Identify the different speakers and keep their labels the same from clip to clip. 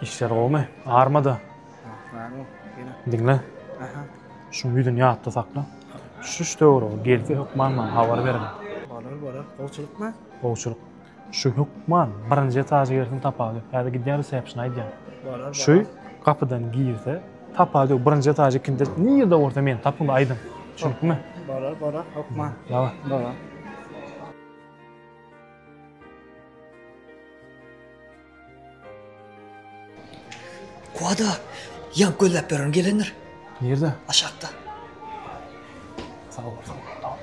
Speaker 1: Işler gowumy? Armada.
Speaker 2: Diňle. Şu
Speaker 1: ýüzüni ýatda sakla. Şuş döwür gelse hökman maňa habar berin. Bolar, bolar.
Speaker 2: Gowçulykmy? Gowçulyk.
Speaker 1: Şu hökman birinji etaja gelsin tapagy. Häzir gidýän resepsini aýdýan. Bolar. Şu
Speaker 2: gapydan
Speaker 1: girse tapagy ýok. Birinji etaja ikinde nirde bolsa meni tapyň aýdyň. Düşünipmi? Bolar, bolar. Hökman.
Speaker 2: Ýa. Bolar.
Speaker 3: Kuada, ýap gözläp ýörün gelendir. Nirde?
Speaker 1: Aşakda. Sag bol, sag bol.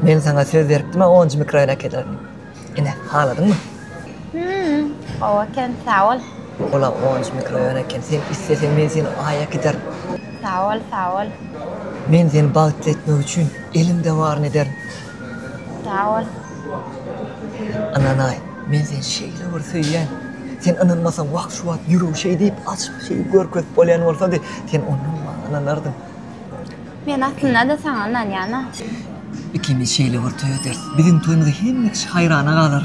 Speaker 3: Men sana söz beripdim, onuncu mikroýon äkelerin. Ine, haladyňmy? Hmm,
Speaker 4: owa eken, sag bol. Ola onuncu
Speaker 3: mikroýon eken, sen isleseň men seni aýa giderin. Sag bol, sag
Speaker 4: bol. Men seni
Speaker 3: bagtly etmek üçin elimde baryny ederin.
Speaker 4: Sag
Speaker 3: bol. Ynanaý, men seni şeýle bir söýýän. Sen ynanmasaň, wah, şu wagt ýüregi şeý diýip, açyk, şeý görkezip bolýan bolsady, sen onnoň maňa ynanardyň. Men
Speaker 4: aslynda-da saňa ynanýan-a. Ikimiz
Speaker 3: şeýle bir toý ederis. Biziň toýumyza hemme kişi haýrana galar.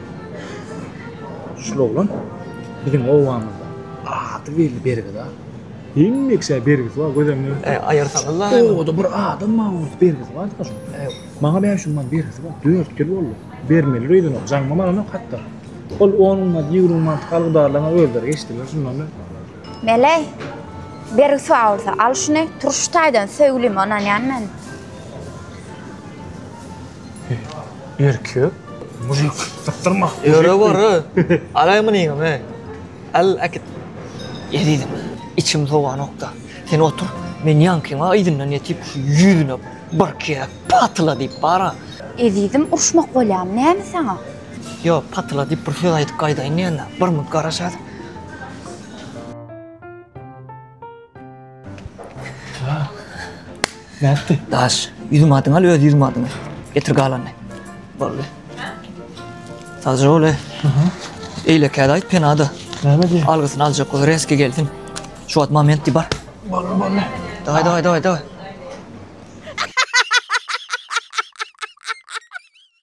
Speaker 1: Şul oglan biziň obamyzda ady belli Bergiz aga. Hemme kişä Bergiz bar göz öňüne ötüp. Äý, aýyrsaňyz-la.
Speaker 3: Obada bir adam
Speaker 1: Magtymguly Bergiz bardyka şuň. Äý. Maňa bäş ýüz man bergisi bar. Dört ýyl boldy. Bermelidir öýdenok. Jaňymam alanok hatda. Ol on ýüz ýigrimi mantyk algydarlaryňam özleri geçdiler şundan öň. Meleý,
Speaker 4: bergis bar bolsa, al şuny. Turşy taýdan söýgülime ynanýan men.
Speaker 1: Erkek mujik sypdyrma. Ýöre gorre.
Speaker 3: Alaý munyňam he. Al äkit. Ezizim, içim sowanokda. Sen otur, men ýaňkyňa yzyndan ýetip şu ýüzüne bir kere patyla diýip bara. Ezizim urşmak
Speaker 4: bolýamy näme saňa? Ýo, patyla
Speaker 3: diýip bir söz aýdyp gaýdaýyn diýendim. Bir munt garaşaýsyn.
Speaker 1: Nätdi? Daş, ýüzüň adyňy
Speaker 3: al, öz ýüzüň adyňy. Getir galany. Boldy. Sagja bol, e. Eýlekäde aýt penada. Näme diýýär? Algysyny
Speaker 1: aljak bol,
Speaker 3: reski gelsin. Şu wagt moment diýip bar. Boldy, boldy. Daway, daway, daway, daway.